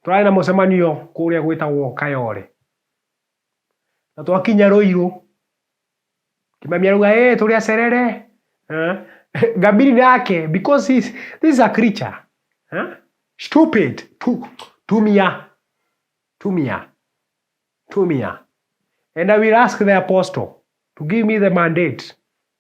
Tũrarĩ na mũcemanio kũrĩa gwĩtagwo Kayole. Na twakinya Rũirũ, Kimamia arauga, "Eh, tũrĩ acerere." Eh, Ngambiri nake, because he's, this is a creature. Eh? Stupid. Tu, tumia. Tumia. Tumia. And I will ask the apostle to give me the mandate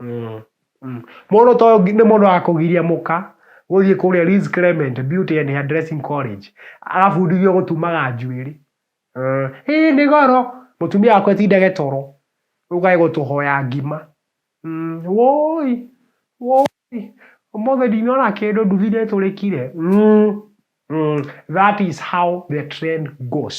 Mm. Mm. Mũndũ to nĩ mũndũ wa kũgiria mũka gũthiĩ kũrĩa Liz Clement Beauty and Hairdressing College agabundithio gũtumaga njuĩrĩ mm. ĩĩ nĩ goro mũtumia wakwa etindage toro ũkae gũtũhoya ngima mm. woi woi ũmũthĩ ndinona kĩndũ nduthi nĩ tũrĩkire mm. mm. that is how the trend goes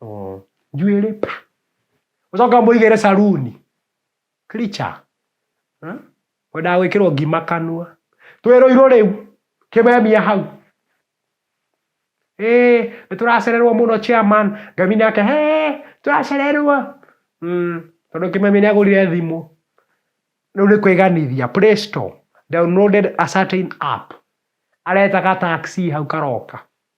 Oh. njuĩrĩ pa ũcoka mũigĩre saruni kricha wendaga gwĩkĩrwo ngima kanua twĩrũirwo rĩu kĩmemia hau Hey, nĩ tũracererwo mũno chairman ngami nake he tũracererwo mm, tondũ kĩmemia nĩ agũrire thimũ rĩu nĩ kwĩganithia play store downloaded a certain app aretaga taxi hau karoka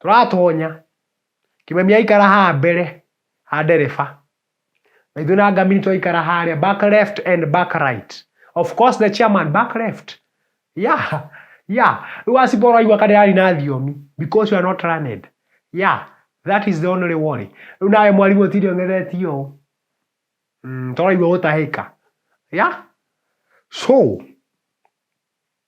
Tũratonya, Kimemia aikara haha mbere ha ndereba, na ithuĩ na Ngamiri twaikara harĩa back left and back right. Of course the chairman back left. Yeah, yeah, rĩu Asipo ũraigua ka ndĩrari na thiomi because you are not learned. Yeah, that is the only worry. Rĩu nawe mwarimũ ũtinde ũng'ethetie ũũ. Mm, tũraigua gũtahĩka. Yeah? So,